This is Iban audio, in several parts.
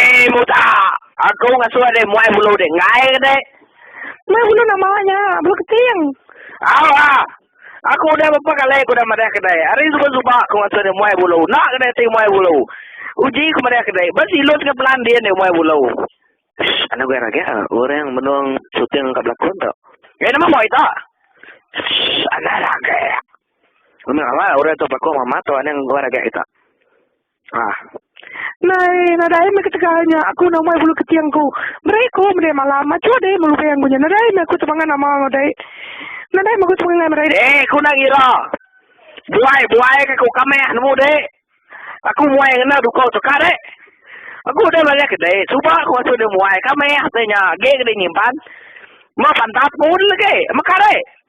Ei muda, aku ngasuh deh muai bulu deh enggai ke deh. Muai bulu nak mawa nya, bulu keting. Au ha, aku udah bapa kali ku udah madah ke deh, hari suba suba aku ngasuh deh muai bulu, nak ke deh ti muai bulu. Uji ku madah ke deh, ba silus enggau pelan din deh muai bulu. Shh, anu gai raga orang menung suting ka belakon tu. Gai nama muai tu? Shh, anu raga. Memang awak orang tu belakon mama tu anu gai raga kita. Ah. Nai, nadai meh ketegal nya aku enda umai bulu keting ku. Meri ku mending malam aja deh melu payang ku nya. Nadai meh aku temangan ama dai. Nadai meh aku temangan ngai merai dai. Eh, ku enda ngira. Buai-buai ke ku ka meh nemu dek. Aku muai ngena duko tu ka dek. Aku udah belajar ke dek. Suba ku asu deh muai ka meh deh nya. Agi ke deh nyimpan. Meh pantat pun lagi. Meka dek.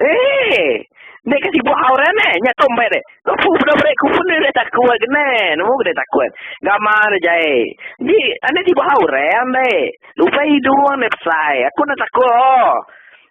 Eee! Meh ka sibuk hau ren eh, nya tu meh deh. Lepu peda beri ku pun deh takut geneh. Nemu deh takut. Gama deh jai. Di, ane sibuk hau ren deh. Lupai hidung deh besai. Aku enda takut oh.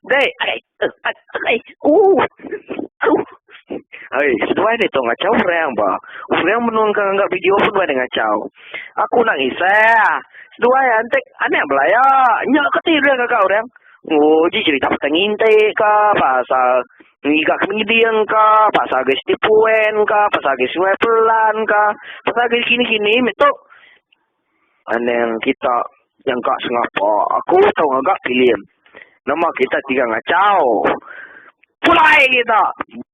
Deh, ai, ai, ai, uh, uh. Ai, seduai deh tu ngachau orang ba. Orang menung ka ngangga video pun duai deh ngachau. Aku enda ngisah. Seduai antek anak belaya. Nya ke ti orang gaga orang. Nguji cerita pasal nginti ka, pasal ngiga ke menyeding ka, pasal agei siti puen ka, pasal agei sungai pelan ka, pasal agei kini-kini meh tu. Anang kita nyangka sengapa aku tau ngaga filem. Nama kita tiga ngachau. Pulai kita.